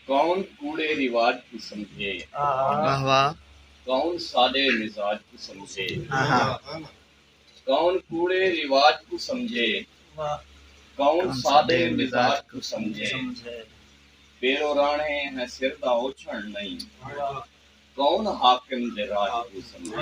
کون کوڑے رواج کوں سمجھے کون سادے مزاج کوں سمجھے کون کوڑے رواج کوں سمجھے کون سادے مزاج کوں سمجھے پیرو راہݨے ہیں سر دا اوچھݨ نئیں کون حاکم دے راج کوں سمجھے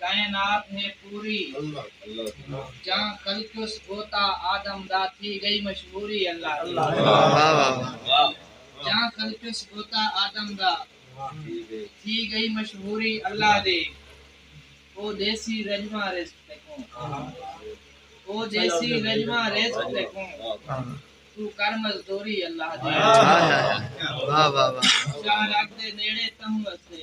کائنات ہے پوری جاں خلقیس بوتا آدم دا تھی گئی مشہوری جاں خلقیس بوتا آدم دا تھی گئی مشہوری اللہ دے او دیسی رجواں رزق تے کوں او دیسی رجواں رزق تے کوں تو کر مزدوری اللہ دے شاہ رگ دے نیڑے تہوں اسے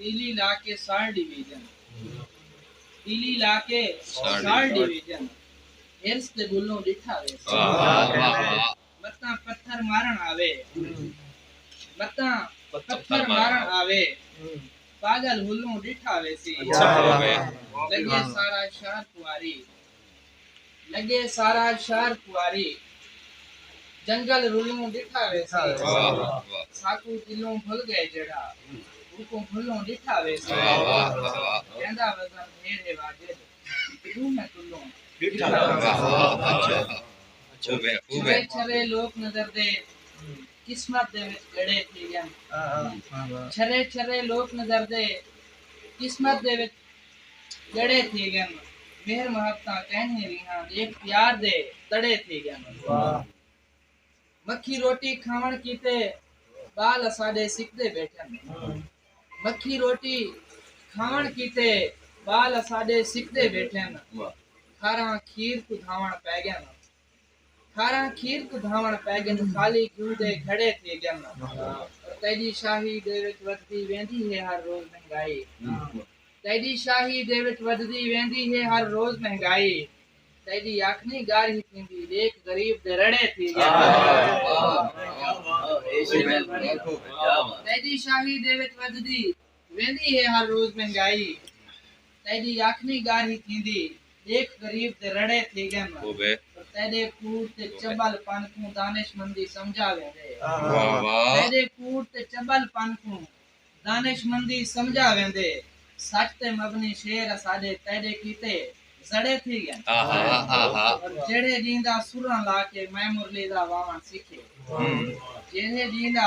پیلی لا کے ساڑ ڈویژن پیلی لا کے ساڑ ڈویژن ہرس دے بلوں ڈٹھا ویسے متاں پتھر مارن آوے متاں پتھر مارن آوے پاگل ہلوں ڈٹھا ویسی لگے سارا شہر کنواری لڳے سارا شہر خواری جنگل رلوں ݙٹھا ویسی ساکوں دلوں بھل ڳئے جیڑھا اوکوں بھلوں ݙٹھا ویسی جیندا وزن ڈھیر ہے واجب ݙوہیں کلوں چھوے چھرے لوک نظر دے قسمت دے وچ گھڑے تھی ڳن چھرے چھرے لوک نظر دے قسمت دے وچ ڄڑے تھی ڳن مہر محبتاں کینہیں ریہاں ݙیکھ پیار دے تڑے تھی ڳن مکھی روٹی کھاوݨ کیتے ٻال اساݙے سکدے ٻیٹھن مکھی روٹی کھاوݨ کیتے ٻال اساݙے سکدے ٻیٹھن کھاراں کھیر کوں دھاوݨ پئے ڳن۔ کھاراں کھیر کوں دھاوݨ پئے ڳن خالی گھیو دے گھڑے تھی ڳن تیݙی شاہی دے وچ ودھدی ویندی ہے ہر روز مہنگائی تیݙی شاہی دے وچ ودھدی ویندی ہے ہر روز مہنگائی تیݙی اکھ نی ڳارھی تھیندی ݙیکھ غریب دے رڑے تھی ڳن تیݙی شاہی دے وچ ودھدی ویندی ہے ہر روز مہنگائی تیڈی یکھ نی گارھی تھیندی ڈیکھ غریب دے رڑے تھی گن پر تیڈے کوڑ تے چبل پن کوں دانش مندی سمجھا ویندے تیڈے کوڑ تے چبل پن کوں دانش مندی سمجھا ویندے سچ تے مبنی شعر اساڈے تیڈے کیتے زڑے تھی گن پر جیڑھے ڈیندا سراں لا کے میں مرلی دا واون سیکھے جیڑھے ڈیندا